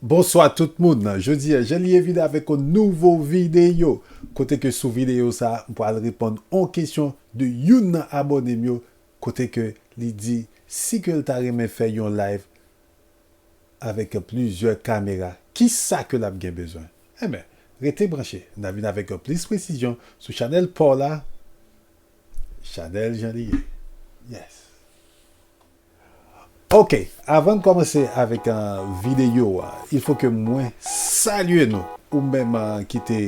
Bonswa tout moun, jodi a Janlye vin avèk yon nouvo videyo kote ke sou videyo sa m pral reponn yon kesyon de youn nan abòne m yo kote ke li di si ke l ta renmen fè yon live avèk plizyè kamera kisa ke lap gen bezwen enben rete branche na vin avèk plis presizyon sou chanèl paw la chanèl jan li ye yes ok avann kòmanse avèk videyo a il fò ke mwen salye nou ou menm ki te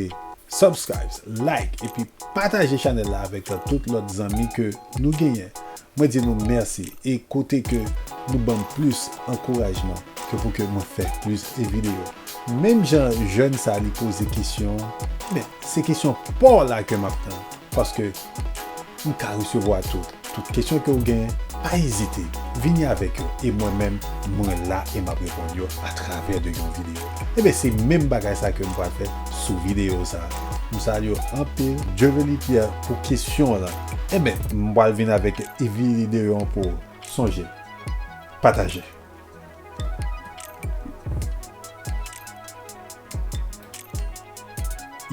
subscribes like epi pataje chanèl la avèk tout lòt zanmi ke nou genyen Mwen di nou merci e kote ke nou banm plus ankourajman ke pou ke mwen fè plus e video. Menm jan jeune sa li poze kesyon men se kesyon paw la ke map tann paske m ka resevwa tou tout kesyon ke ou gen pa ezite vini avek yo e mwen menm mwen la e map reponn yo a travè de yon video enben se menm bagay sa ke m pral fè sou video sa m salye w anpil Dieuvely Pierre pou kesyon w lan. Enben, m pral vin avèk vide yo an pou ou. Sonje, pataje.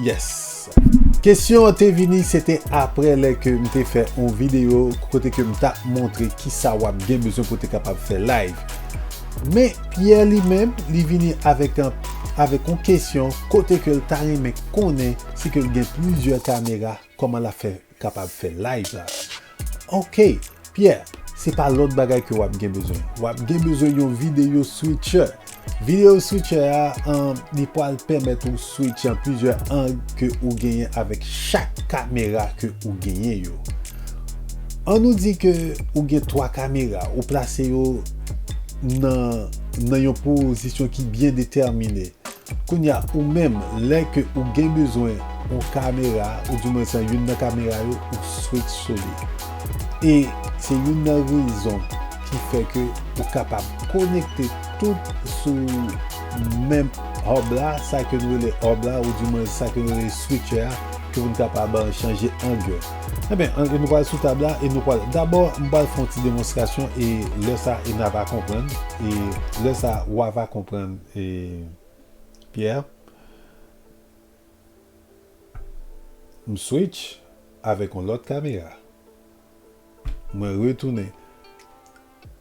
Yes! Kesyon an te vini, se te apre lè ke m te fè yon vide yo kote ke m ta montre ki sa w ap gen bezwen pou te kapab fè live. Men, Pierre li menm, li vini avèk yon kesyon kote ke l ta renmen konnen si ke l gen plizyè kamera. Koman la fè kapab fè live la. Ok Pierre se pa lot bagay ke wap gen bezwen wap gen bezwen yon video switcher video switcher a li pwal pèmèt ou switch an plizyè ang ke ou genyen avèk chak kamera ke ou genyen yo an nou di ke ou gen 3 kamera ou plase yo nan nan yon pozisyon ki byen detèmine Kounya ou menm lè ke ou gen bezwen yon kamera ou di mwen san youn nan kamera yo ou swit sou li e se youn nan rezon ki fè ke ou kapab konekte tout sou menm hub la sa ke nou rele hub la ou di mwen sa ke nou rele switcher a ke pou nou kapab chanje ang yo enben an nou pral sou tab la e nou pral dabò m pral fè yon ti demonstrasyon e lè sa e na va konprann e lè sa wa va konprann. E Pierre, M switch avèk yon lòt kamera. Mwen retounen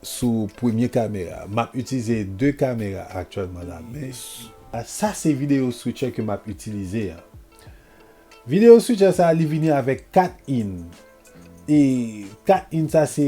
sou premye kamera. M ap itilize de kamera aktyèlman la men. Sa se video switcher ke m ap itilize a. Video switcher sa li vini avèk 4 in. E 4 in sa se.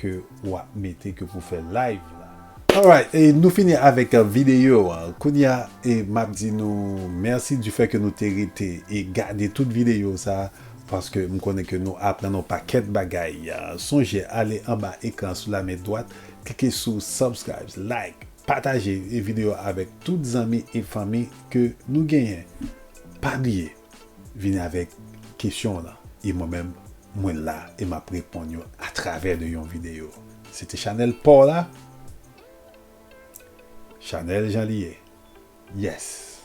ke wap mete ke pou fè live la. Alright e nou fini avèk video a kounya e map di nou merci du fait ke nou te rete e gade tout video sa paske m konnen ke nou aprann yon pakèt bagay sonje ale anba ekran sou la men dwat klike sou subscribes like pataje e video avèk tout zanmi e fanmi ke nou genyen pa bliye. Vini avèk kesyon w lan e mwen menm mwen la e map reponn yo atravè de yon video. Se te chanèl paw la Chanèl jan li ye Yes.